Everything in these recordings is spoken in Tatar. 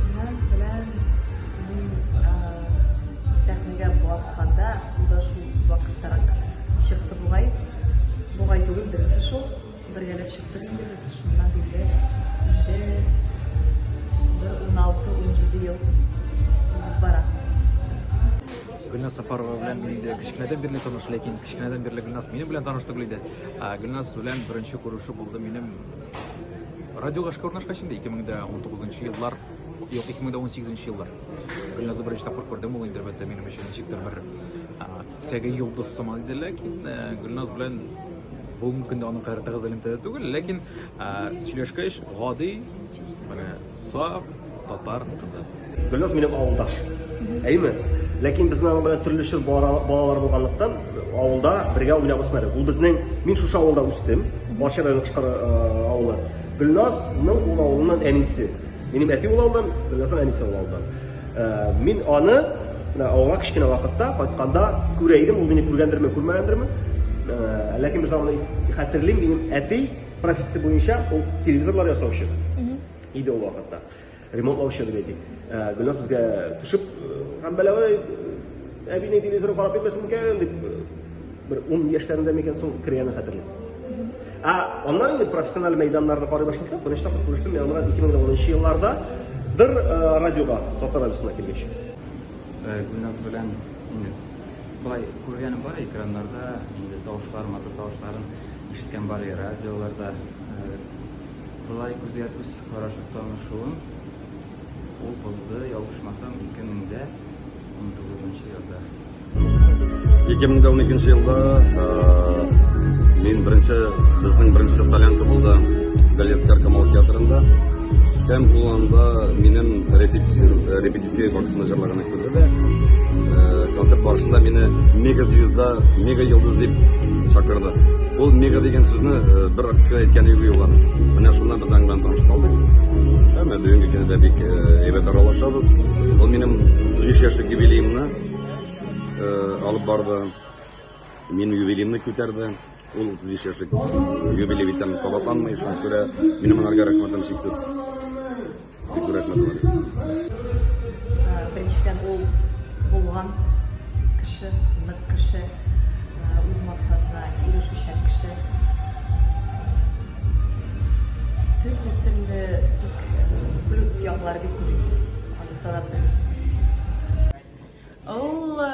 Диназ белән мин сәхнәгә басканда ул да шул вакыттарак чыкты бугай. Бугай түгел, дөресе шул. Бергәләп чыктык инде без шуннан бирле. Инде бер 16-17 ел узып бара. Гөлназ Сафарова белән мин инде кечкенәдән бирле таныш, ләкин кечкенәдән бирле Гөлназ минем белән таныш түгел иде. Гөлназ белән беренче күрешү булды минем Радиога эшкә урнашкач инде 2019 еллар, юк 2018 еллар. Гөлназы беренче тапкыр күрдем ул интернетта минем өчен ничектер бер теге йолдыз сыман иде, ләкин э, Гөлназ белән бүгенге көндә аның кадәр тыгыз элемтәдә түгел, ләкин э, сөйләшкәч гади, менә Саф татар кызы. Гөлназ минем авылдаш. Әйме? Ләкин безнең аның белән төрле чор балалар булганлыктан, авылда бергә уйнап үсмәдек. Ул безнең, мин шушы авылда үстем, Барча районы Кышкар авылы. Гөлназның ул авылыннан әнисе. Минем әти ул авылдан, Гөлназның әнисе ул авылдан. Мин аны менә авылга кечкенә вакытта кайтканда күрә идем, ул мине күргәндерме, күрмәгәндерме. Ләкин без аны хәтерлим, минем әти Профессия буенча ул телевизорлар ясаучы иде ул вакытта. Ремонтлаучы дип әйтик. Э, Гөлназ безгә төшеп, һәм э, бәләвәй э, әбине телевизоры карап йөрмәсен микән дип бер 10 яшьләрендә микән соң кергәнен хәтерлим. Ә аннан инде профессиональ мәйданнарны карый башласак, беренче тапкыр күрештем мин аңа 2010 елларда дыр радиога, татар радиосына килгәч. Гөлназ белән Бай, күргәнем бар экраннарда, инде тавышлар, матур тавышларын ишеткән бар и радиоларда. Былай күзгә күз карашып танышуым ул булды, ялгышмасам, 2000-дә 19 елда. 2012 елда мин беренче безнең беренче солянка булды Галескар Камал театрында. Һәм кулланда минем репетиция репетиция вакытында җырлаган Концерт барышында мине мега звезда, мега йолдыз дип чакырды. Ул мега дигән сүзне э, бер артистка әйткән иде юллар. Менә шуннан без аңнан танышып калдык. Әмма бүгенге көндә бик э, әйбәт аралашабыз. Ул минем 3 яшьлек юбилеемны э, алып барды. Минем юбилеемны күтәрде. Ул 35 яшьлек юбилей бит кабатланмый, шуңа күрә минем анарга рәхмәтем чиксез. бик рәхмәт беренчедән ул булган кеше нык кеше үз максатына ирешүчән кеше төрле төрле бик плюс яклары бик күп аны санап бетермисез Ул э,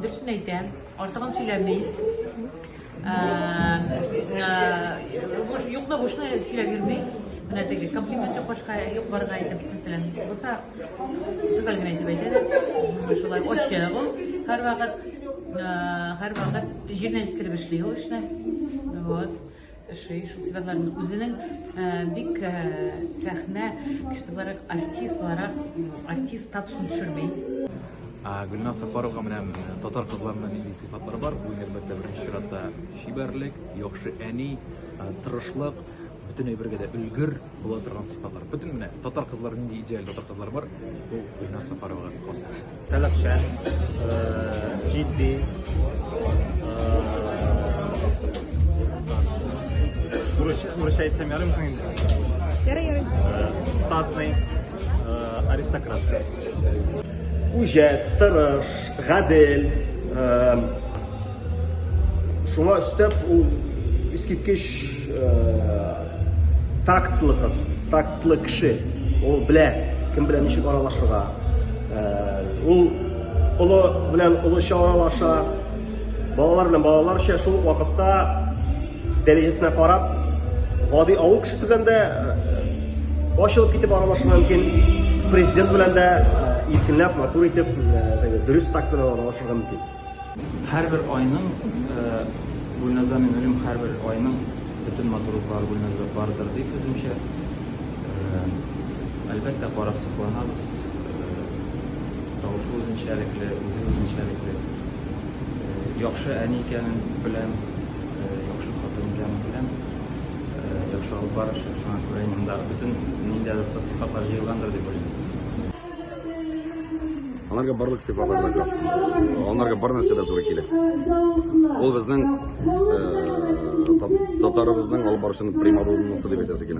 дөресен әйтә, артыгын сөйләми. Э, э, юкны бушны сөйләп йөрми. Менә теге комплимент юк башка юк барга әйтеп, мәсәлән, булса төгәл генә әйтеп әйтә дә. Шулай очы ул һәрвакыт һәрвакыт җиренә җиткереп эшли ул эшне. Вот. Шәй шул сәбәпләрен үзенең э, бик э, сәхнә кеше буларак, артист буларак, артист статусын төшерми. Гөлназ Сафаровга менә э, татар кызларында нинди сыйфатлар бар? Бу әлбәттә беренче чиратта чибәрлек, яхшы әни, тырышлык, бөтен әйбергә дә өлгер. Була торган сыйфатлар. Бөтен менә татар кызлары нинди идеаль татар кызлары бар, бу Гөлназ Сафаровага хас. Таләпчән, э, җитди, Урысча әйтсәм ярым соң инде. Ярый, ярый. Э, статный, э, аристократ. Үҗәт, тырыш, гадел, э, Шуңа өстәп ул искиткеч тактлы кыз, тактлы кеше. Ул белә, кем белән ничек аралашырга. Ул олы белән олыча аралаша, балалар белән балаларча шул вакытта дәрәҗәсенә карап, гади авыл кешесе белән дә ачылып китеп аралашу мөмкин президент белән дә иркенләп матур итеп дөрес так белән аралашырга мөмкин Һәрбер айның Гөлназа мин уйлыйм һәрбер айның бөтен матурлыклары Гөлназда бардыр дип үземчә. Әлбәттә карап сокланабыз. Тавышы үзенчәлекле, үзе үзенчәлекле. Яхшы әни икәнен беләм, яхшы хатын икәнен беләм. Яхшы алып барачак, шуңа күрә инде монда бөтен ниндидер сыйфатлар җыелгандыр дип уйлыйм. Аларга барлык сыйфатлар да керә. Аларга бар нәрсә дә туры килә. Ул безнең татарыбызның алып барышын примадоннасы дип әйтәсе килә.